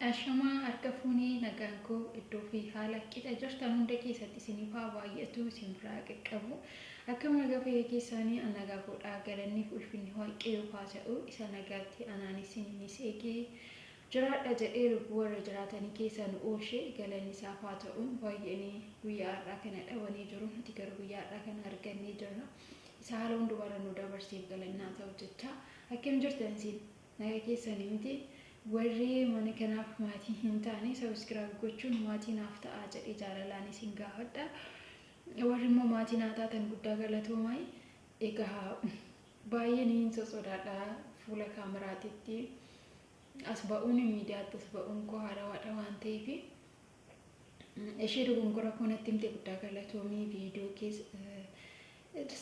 Ashamaa harka fuunee nagaan koo iddoo fi haala qixa jirtan hunda keessatti isiniif haa baay'atu isin biraa qaqqabu akkam nagaa fayyaa keessaanii an nagaa koodhaa galanniif ulfinni waaqayyoof haa ta'u isa nagaatti anaan isiniinis eegee jiraadha jedhee lubbuu warra jiraatanii keessaa nu oolche galanni isaaf haa ta'u baay'een guyyaa har'aa kana dhabanii jiru nuti garuu guyyaa har'aa kana argannee jirra isa haala hundumarra nu dabarseef galannaa ta'u jecha akkam jirtan isin Naga keessani miti warri mana kanaaf maatii hin taane subscribe gochuun maatii naaf ta'aa jedhe jaalalaan isin gaafadha warri immoo maatii naa taatan guddaa galatoomai egaa baay'ee niin sosodaadha fuula kaameraatitti as ba'uun miidiyaatti as ba'uun koo haarawaadha waan ta'eef Ishee dogongora koo natti himte guddaa galatoomii viidiyoo kees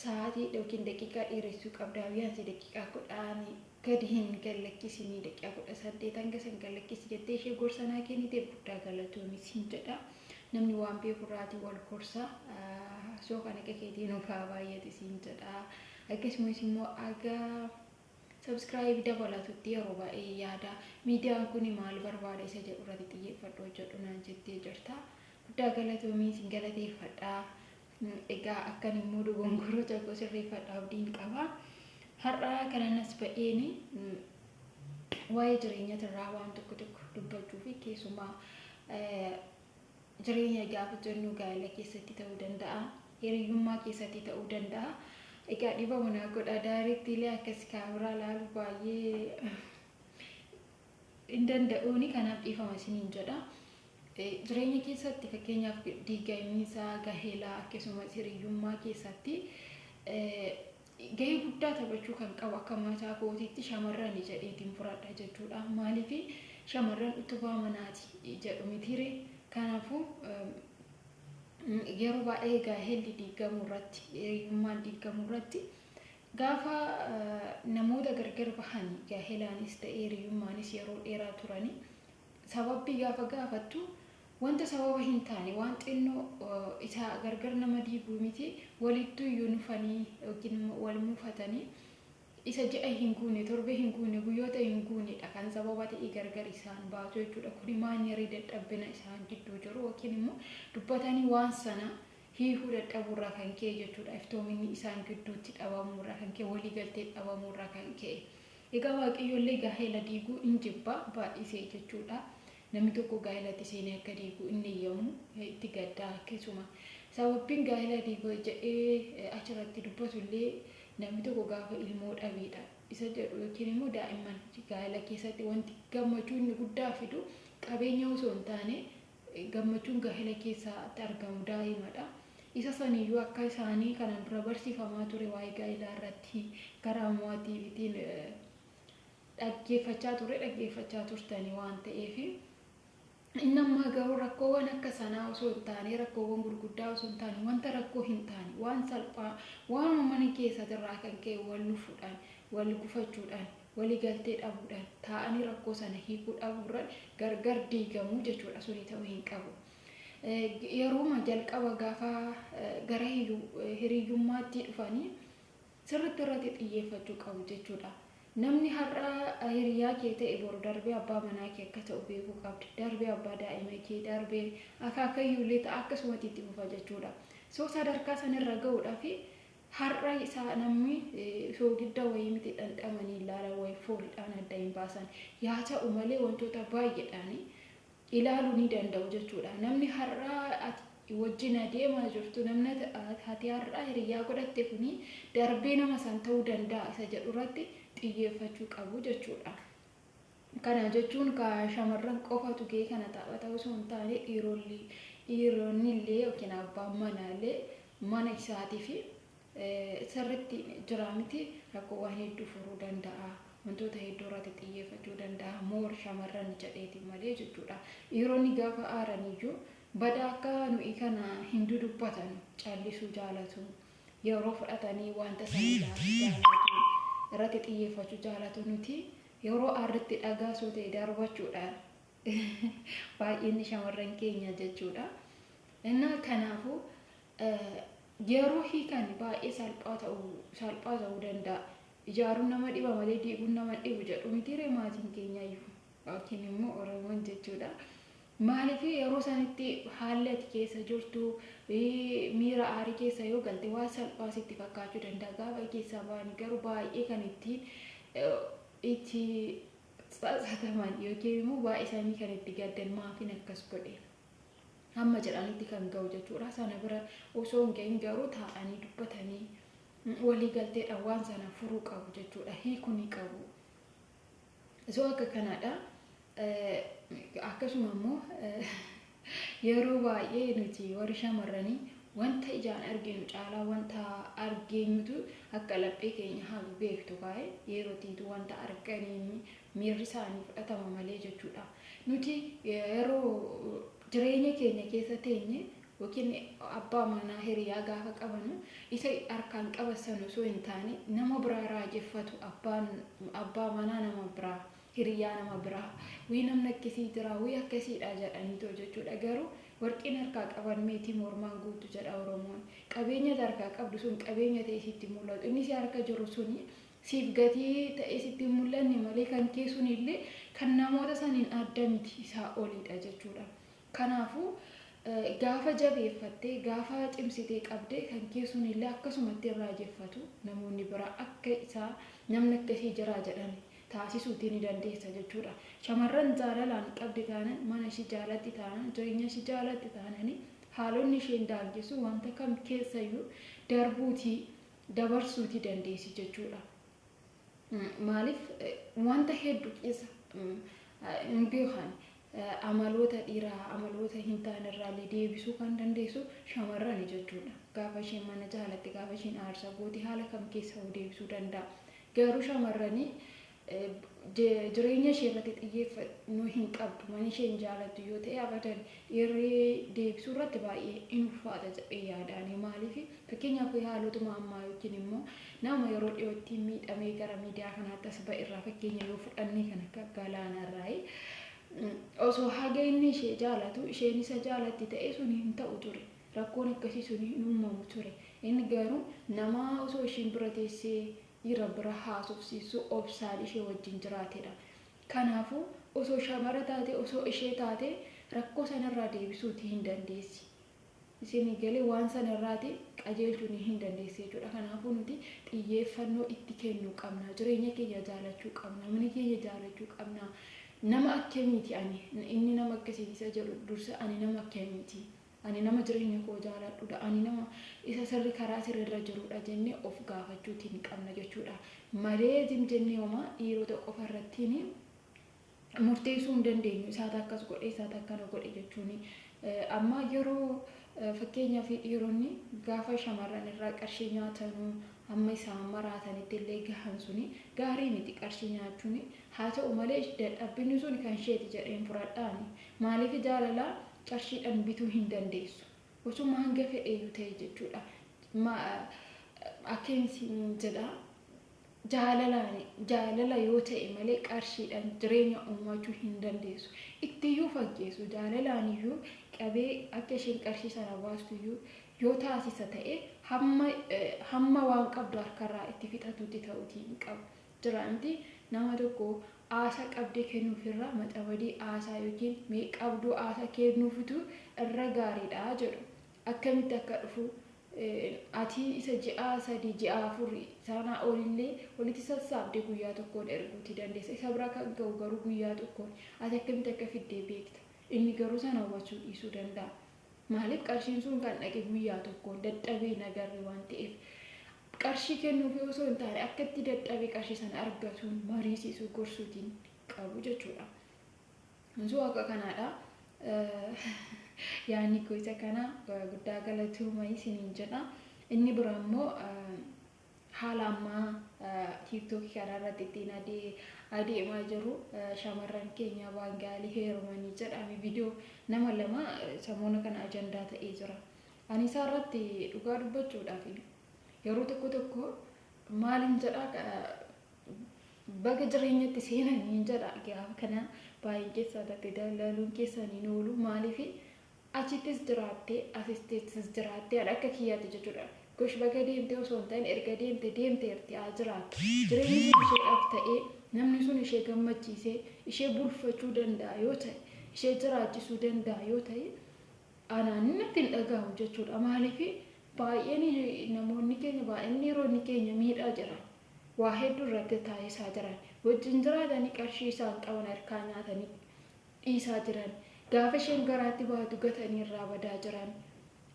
sa'aatii yookiin daqiiqaa dheeressuu qabdaa biyyaansi daqiiqaa kudhaan gadi hin gallakkisinii daqiiqaa kudha saddeet hanga san gallakkisi jettee ishee gorsa naa kennite guddaa galatoomii siin jedha namni waan beeku irraatii wal gorsa soo kan akka keetii nuuf haa baay'ate siin jedha akkasumas immoo agaa Subscribe dabalatutti yeroo baay'ee yaada miidiyaan kun maal barbaada isa jedhu irratti xiyyeeffadhu hojjedhu naan jettee jirta. Guddaa galatoomii sin galateeffadha. Egaa akkan immoo dogongoroo tokko sirreeffadha abdiin qaba. Har'aa kananas ba'een waa'ee jireenya irraa waan tokko tokko dubbachuu fi keessumaa Jireenya gaafa jennu gaa'ela keessatti ta'uu danda'a, hiriyyummaa keessatti ta'uu danda'a. Egaa dhiifama naa godha daarittiilee akkas kaameraa ilaalu baay'ee hin danda'uuni kanaaf dhiifama isiniin jedha. Jireenya keessatti fakkeenyaaf diigamiinsa gaheelaa akkasumas hiriyyummaa keessatti gahee guddaa taphachuu kan qabu akka mataa kootiitti shamarrani jedheetiin fudhadha jechuudha. Maaliif shamarran utubaa manaati jedhu mitiire kanaafuu yeroo baay'ee gaahelli diigamuu irratti hiriyummaan diigamuu irratti gaafa namoota gargar bahanii gaahelaanis ta'ee hiriyummaanis yeroo dheeraa turanii sababbii gaafa gaafattu Wanta sababa hin taane, waan xinnoo isa gargar nama diigu miti, walittuu iyyuu nufanii yookiin immoo wal mufatanii isa ji'a hin guune, torbee hin guune, guyyoota hin guune dha kan sababa ta'ee gargar isaan baasu jechuu dha. Kuni maanyerii dadhabbina isaan gidduu jiru yookiin immoo dubbatanii waan sana hiikuu dadhabuu irraa kan ka'e jechuu dha. Iftoominni isaan gidduutti dhabamuu irraa kan ka'e, walii galteen dhabamuu irraa kan ka'e. Egaa Waaqayyo illee gaa'ela diiguu in jibba, baay'isee jechuu dha. Namni tokko gaa'ilatti seenee akka diigu inni eyyamu itti gadda. Keessuma sababbiin gaa'ila diiga jedhee achirratti dubbatu illee namni tokko gaafa ilmoo dhabeedha isa jedhu yookiin immoo daa'imman gaa'ila keessatti wanti gammachuu inni guddaa fidu qabeenya osoo hin taane gammachuun gaa'ila keessatti argamu daa'imadha. Isa saniyyuu akka isaanii kanaan dura barsiifamaa ture waa'ee gaa'ilaa irratti karaa mo'atiivitiin dhaggeeffachaa turre dhaggeeffachaa turtanii waan ta'eef inni ammaa garuu rakkoowwan akka sanaa osoo hin taane rakkoowwan gurguddaa osoo hin taane wanta rakkoo hin taane waan salphaa waan uummanni keessatirraa kan ka'e wal lufuudhaan wal gufachuudhaan waliigaltee dhabuudhaan taa'anii rakkoo sana hiikuu dhabuurra gargar diigamuu jechuudha suni ta'uu hin qabu. Yeruma jalqaba gaafa gara hiriyyummaatti dhufanii sirritti irrati xiyyeeffachuu qabu jechuudha. Namni har'a hiriyaa kee ta'e boru darbee abbaa manaa kee akka ta'u beekuu qabda. Darbee abbaa daa'ima kee, darbee akaakayyuu illee ta'a akkasumati itti fufa jechuudha. So sadarkaa san irra ga'uudhaaf har'a isaa namni soogidda wayii miti dhandhamanii ilaalan wayii foolidhaan adda hin baasan. Yaa ta'u malee wantoota baay'eedhaan ilaalu ni danda'u jechuudha. Namni har'a ati wajjin adeemaa jirtu, namni ati har'a hiriyyaa godhatte kuni darbee nama san ta'uu danda'a isa jedhu irratti xiyyeeffachuu qabu jechuudha. Kana jechuun shamarran qofatu gahee kana taphata osoo hin taane dhiironni illee yookiin abbaan manaa illee mana isaatii fi sirritti jira miti rakkoowwan hedduu furuu danda'a wantoota hedduu irratti xiyyeeffachuu danda'a more shamarran jedheeti malee jechuudha dhiironni gaafa aaraniyyuu bada akka nuyi kana hin dudubbatan callisuu jaalatu yeroo fudhatanii wanta sana ilaaluu jaalatu irratti xiyyeeffachuu jaalatu nuti yeroo aarritti dhagaa soo ta'e darbachuudhaan baay'inni shamarran keenya jechuudha. Innaa kanaafuu Yeroo hiikan baay'ee salphaa ta'u salphaa ta'uu danda'a. Ijaaruun nama dhiba malee diiguun nama hin dhibu jedhu mitiiree maatiin keenyayyuu yookiin immoo Oromoon jechuudha. Maaliif yeroo sanitti haalli ati keessa jirtu miira aarii keessa yoo galte waan salphaa sitti fakkaachuu danda'a. Gaafa keessaa ba'anii garuu baay'ee kan ittiin itti tsatsataman yookiin immoo baay'isanii kan itti gaddan maatiin akkas godhe. hamma jedhanitti kan ga'u jechuudha. Sana bira osoo hin ga'iin garuu taa'anii dubbatanii walii galteedhaan waan sana furuu qabu jechuudha. Hiikuu ni qabu. Osoo akka kanaadha. Akkasuma immoo yeroo baay'ee nuti warri shamarranii wanta ijaan arginu caalaa wanta argeenyutu akka laphee keenya hagugeefitu kaa'e yerootiitu wanta arganiin miirri isaanii fudhatama malee jechuudha. Nuti yeroo jireenya keenya keessa teenye yookiin abbaa manaa hiriyaa gaafa qabanu isa harkaan qabasan osoo hin taane nama biraa raajeffatu abbaan abbaa manaa nama biraa hiriyaa nama biraa wii namni akkasii jira wii akkasiidha jedhanii too jechuudha garuu warqiin harkaa qaban meetii mormaan guutu jedha oromoon qabeenya harkaa qabdu sun qabeenya ta'e sitti mul'atu inni si harka jiru suni Siif gatii ta'ee sitti hin mul'anne malee kan kee sun illee kan namoota saniin adda miti isaa oliidha jechuudha. Kanaafu gaafa jabeeffattee gaafa cimsitee qabde kan kee sun illee akkasumatti hin raajeffatu namoonni biraa akka isaa namni akkasii jiraa jedhan taasisuutii ni dandeessa jechuudha. Shamarran jaalalaan qabdi taanan mana ishii jaalatti taanan jireenya ishii jaalatti taanani haalonni isheen daangessu wanta kam keessayyuu darbuutii dabarsuuti dandeessi jechuudha. Maaliif wanta hedduu keessa hin beekan amaloota dhiiraa amaloota hin taane irraallee deebisuu kan dandeessu shamarrani jechuudha. Gaafa isheen mana jaalatte gaafa isheen aarsa goote haala kam keessa deebisuu danda'a. Garuu shamarranii jireenya ishee irratti xiyyeeffannoo hin qabdu mana ishee hin jaalattu yoo ta'e abadan dhiirri deebisuu irratti baay'ee in ulfaata jedhee yaadaani maaliif fakkeenyaaf haalotuma ammaa yookiin immoo nama yeroo dhiyootti miidhamee gara miidiyaa kanaatti as ba'e irraa fakkeenya yoo fudhannee kan akka galaana irraayi osoo haga inni ishee jaalatu isheen isa jaalatti ta'e sun hin ta'u ture rakkoon akkasii sun hin uumamu ture inni garuu nama osoo ishiin bira teessee Dhiira bira haasofsiisuu obsaan ishee wajjin jiraatedha. Kanaafuu, osoo shamara taatee, osoo ishee taatee rakkoo sanarraa deebisuuti hin dandeessi. Isinii galee waan sanarraati qajeelchuuni hin dandeessi jechuudha. Kanaafuu nuti xiyyeeffannoo itti kennuu qabna. Jireenya keenya jaalachuu qabna. Mana keenya jaalachuu qabna. Nama akkamiiti ani? Inni nama akkasiiti isa jedhu dursa ani nama akkamiiti? Ani nama jireenya koo jaaladhu dha? Ani nama isa sirri karaa sirri irra jiru dha jenne of gaafachuutiin qabna jechuudha. Malee jim jennee homaa dhiirota qofa irrattiin murteessuu hin dandeenyu. Isaata akkas godhe, isaata akkana godhe jechuun. Amma yeroo fakkeenyaa fi dhiironni gaafa shamarran irraa qarshii nyaatanuu amma isaan maraatanitti illee gahan suni gaarii miti qarshii nyaachuun Haa ta'u malee dadhabbinni sun kan isheeti jedheen fudhadha ani. Maaliif jaalala qarshiidhan bituu hin dandeessu. Osuma hanga fedheeyyu ta'e jechuudha. Akkeen siin jedha jaalalaan jaalala yoo ta'e malee qarshiidhan jireenya uumachuu hin dandeessu. Ittiyyuu fakkeessu jaalalaaniyyuu qabee akka isheen qarshii sana baastuyyuu yoo taasisa ta'e hamma hamma waan qabdu harkarraa itti fixatutti ta'uutii hin qabu. Diraanti nama tokko aasa qabdee kennuuf irra maxabadii aasaa ykn mee qabduu aasaa keennuufutu irra gaariidha jedhu. Akkamitti akka dhufu ati isa ji'aa sadii ji'aa afur saanaa olillee walitti sassaabdee guyyaa tokkoon erguuti dandeessa. Isa bira kan ga'u garuu guyyaa tokkoon. Ati akkamitti akka fiddee beekta. Inni garuu san hawwachuu dhiisuu danda'a. Maaliif qarshiin sun kan dhaqe guyyaa tokkoon dadhabee hin agarre waan ta'eef qarshii kennuufi osoo hin taane akka itti dadhabee qarshii sana argatuun mariisiisuu gorsuutiin qabu jechuudha. Osoo akka kanaadha. Yaanni koo isa kana guddaa galatooma isiniin jedha. Inni biraa immoo Haala amma TikTok kana irratti ittiin adeemaa jiru shamarran keenya Baangaalii heerumanii jedha ani viidiyoo nama lama samoona kana ajandaa ta'ee jira. Ani isaa irratti dhugaa dubbachuudhaaf yeroo tokko tokko maaliin jedha baga jireenyatti seenanii jedha gaafa kana baay'een keessaa tattee dalaaluun keessaniin oolu maaliif Achittis jiraatte asittis jiraatte an akka kiyyaatti jechuudha. Gosh baga deemte osoo hin ta'in erga deemte deemteerti haa jiraattu. Jireenyi sun isheedhaaf ta'ee, namni sun ishee gammachiisee, ishee bulfachuu danda'a yoo ta'e, ishee jiraachisuu danda'a yoo ta'e anaan natti hin dhagahamu jechuudha. Maaliif baay'een namoonni keenya baay'een dhiironni keenya miidhaa jiran. Waa hedduu irratti taasisaa jiran. Wajjin jiraatanii qarshii isaan qaban harkaa nyaatanii dhiisaa jiran. Gaafa isheen garaatti baatu gatanii irraa badaa jiran.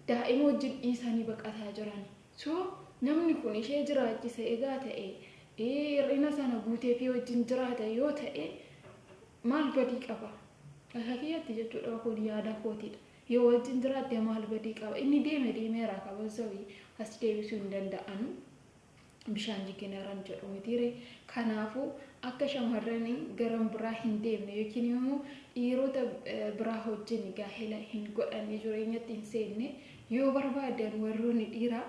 Daa'ima wajjin dhiisanii baqataa jiran. So namni kun ishee jiraachise egaa ta'e hir'ina sana guuteefii wajjin jiraata yoo ta'e maal badii qaba? Akka kiyyatti jechuudha kun yaada kootiidha. Yoo wajjin jiraatte maal badii qaba? Inni deeme deemeera kabazawi as deebisuu hin danda'anu. bishaan jigineran jedhu mitiire kanaafu akka shamarran garan biraa hin deemne yookiin immoo dhiirota biraa hojjin gaahela hin godhanne jireenyatti hin seenne yoo barbaadan warroonni dhiira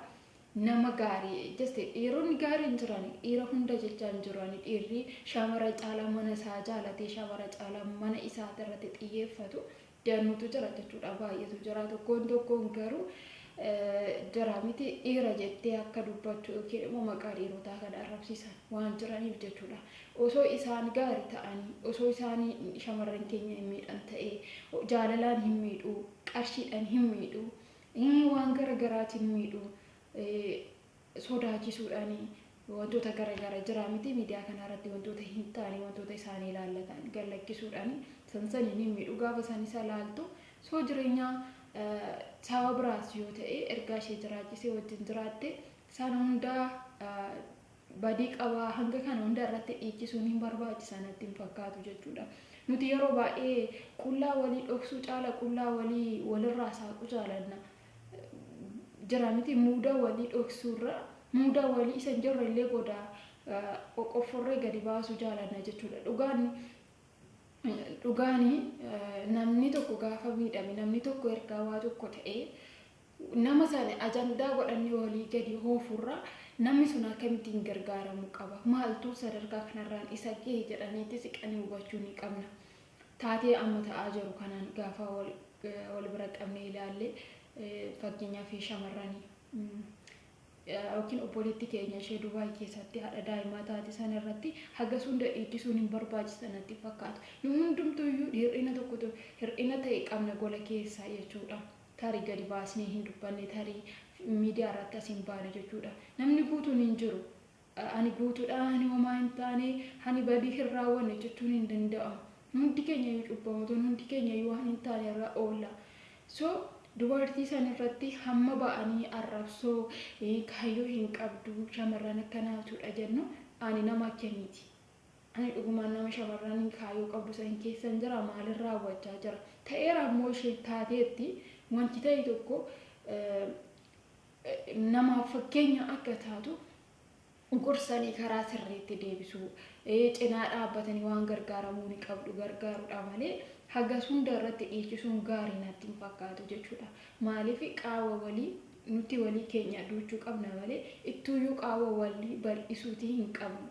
nama gaarii jeste dhiironni gaarii hin jiran dhiira hunda jechaa hin jiran dhiirri shamara caalaa mana isaa jaalatee shamara caalaa mana isaa irratti xiyyeeffatu danuutu jira jechuudha baay'eetu jira tokkoon tokkoon garuu jira miti dhiira jettee akka dubbattu yookiin immoo maqaa dhiirotaa kan arrabsiisan waan jiraniif jechuudha osoo isaan gaarii ta'anii osoo isaan shamarran keenya hin miidhan ta'ee jaalalaan hin miidhuu qarshiidhaan hin miidhuu waan gara garaatiin miidhuu sodaachisuudhaan wantoota gara gara jiraa miti miidiyaa kanaa irratti wantoota hin taane wantoota isaanii ilaallatan gallakkisuudhaan san saniin hin miidhu gaafa san isa laaltu soo jireenyaa saaba biraas yoo ta'e ergaa ishee jiraachisee wajjin jiraatte sana hunda badii qabaa hanga kana hunda irratti dhiichisuun hin barbaachisa natti hin fakkaatu jechuudha. Nuti yeroo baay'ee qullaa walii dhoksuu caala qullaa walii walirraa saaqu jaalanna. jira miti muuda walii dhoksuurra muuda walii isa hin jirre illee goda qoqqofforree gadi baasuu jaalanna jechuudha. Dhugaan dhugaani namni tokko gaafa miidhame namni tokko ergaa waa tokko ta'ee nama sana ajandaa godhannee walii gadi hoofurra namni sun akkamittiin gargaaramu qaba maaltu sadarkaa kanarraan isa ga'e jedhaniiti siqanii hubachuu ni qabna. Taatee amma ta'aa jiru kanaan gaafa wal bira qabnee ilaalle fakkeenyaaf shamarrani yookiin obboleetti keenya ishee Dubaay keessatti haadha daa'imaa taate sana irratti hagas hunda dhiichisuun hin barbaachisa natti fakkaatu. Nu hundumtuu iyyuu hir'ina tokkotu hir'ina ta'e qabna gola keessaa jechuudha. Tarii gadi baasnee hin dubbanne tarii miidiyaa irratti as hin baane jechuudha. Namni guutuun hin jiru. Ani guutuudha, ani homaa hin taane, ani badii hin raawwanne jechuun hin danda'amu. Hundi keenya iyyuu cubbamootonni, hundi keenya iyyuu waan hin taane irra oolla. So dubartii san irratti hamma ba'anii arrabsoo kaayyoo hin qabdu shamarran akkanaatudha jennu ani nama akkamiiti? Ani dhugumaan nama shamarran kaayyoo qabdu san keessan jira maalin raawwachaa jira? Ta'eera ammoo isheen taateetti wanti ta'e tokko namaaf fakkeenya akka taatu gorsanii karaa sirriitti deebisuu, cinaa dhaabbatanii waan gargaaramuu ni qabdu gargaaruudha malee hagas hunda irratti dhiichisuun gaarii natti hin fakkaatu jechuudha. Maaliif qaawwa walii nuti walii keenya duuchuu qabna malee ittuuyyuu qaawwa walii bal'isuutii hin qabnu.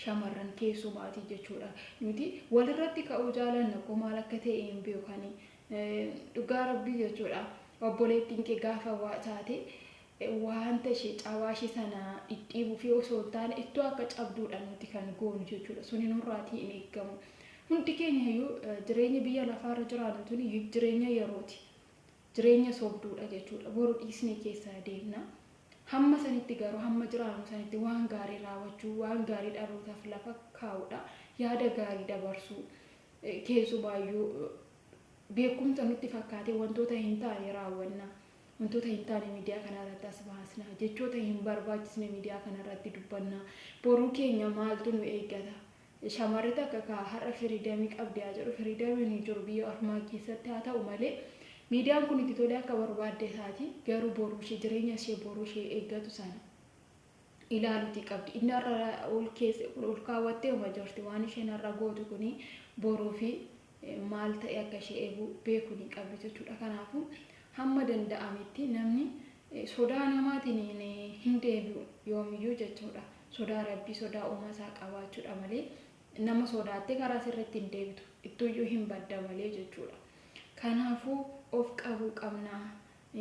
Shamarran keessumaatii jechuudha. Nuti walirratti ka'uu jaalanna koo maal akka ta'e hin beekani. Dhugaa rabbii jechuudha obboleettiin kee gaafa waa taate waanta ishee cabaa ishee sana dhidhiibuu fi osoo hin taane ittoo akka cabduudha nuti kan goonu jechuudha suni nurraatii hin eeggamu hundi keenya iyyuu jireenya biyya lafaarra jiraannu tuni jireenya yerooti jireenya sobduudha jechuudha boru dhiisnee keessa deemna hamma sanitti garuu hamma jiraannu sanitti waan gaarii raawwachuu waan gaarii dhalootaaf lafa kaa'uudha yaada gaarii dabarsuu Keessumaayyuu, beekumsa nutti fakkaatee wantoota hin taane raawwanna, wantoota hin taane miidiyaa kanarratti as baasna, jechoota hin barbaachisne miidiyaa kanarratti dubbanna. Boruu keenya maaltu nu eeggata? Shamarri takka ka har'a firiidamii qabdi haa jedhu, firiidamiin hin jiru biyya ormaa keessatti haa ta'u malee, miidiyaan kun itti tolee akka barbaadde taati, garuu boruu ishee, jireenya ishee boruu ishee eeggatu sana. ilaalutii qabdi inni har'a ol keesse ol kaawwattee uma jirti waan isheen har'a gootu kun boruu fi maal ta'e akka ishee eegu beekuu ni qabdi jechuudha kanaafuu hamma danda'ametti namni sodaa namaatiin hin deebi'u yoomiyyuu jechuudha sodaa rabbii sodaa uumaa isaa qabaachuudha malee nama sodaattee karaa sirriitti hin deebitu ittuuyyuu hin badda malee jechuudha kanaafuu of qabuu qabna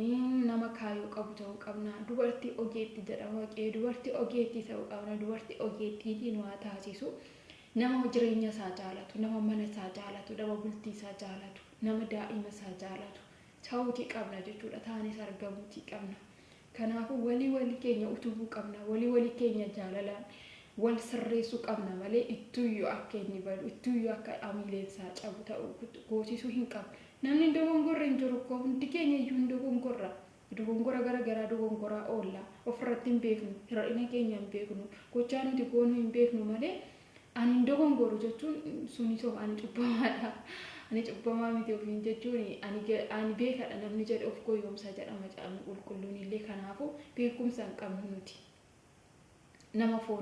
Iin nama kaayoo qabu ta'uu qabna. Dubartii ogeetti jedha waqee. Dubartii ogeettii ta'uu qabna. Dubartii ogeettiitii nu haa taasisu. Nama jireenya isaa jaalatu, nama mana isaa jaalatu, nama bultii isaa jaalatu, nama daa'ima isaa jaalatu ta'uutii qabna jechuudha. Taanis argamuutii qabna. Kanaafuu walii walii keenya utubuu qabna. Walii walii keenya jaalalaan wal sirreessuu qabna malee ittuuyyuu akka inni badu, ittuuyyuu akka amiileen isaa cabu ta'uu goosisuu hin qabnu. Namni hin dogongorre hin jiru koo hundi keenya iyyuu hin dogongorra. Dogongora gara garaa dogongoraa oolla. Of irratti hin beeknu. Hir'ina keenya hin beeknu. Gochaa nuti goonu hin beeknu malee ani hin dogongoru jechuun suni soba ani cubbamaadha. Ani cubbamaa miti ofiin jechuun ani, ani beekadha namni jedhe of goyoomsa jedha macaafni qulqulluun illee kanaafu beekumsa hin qabnu nuti. Nama fooni.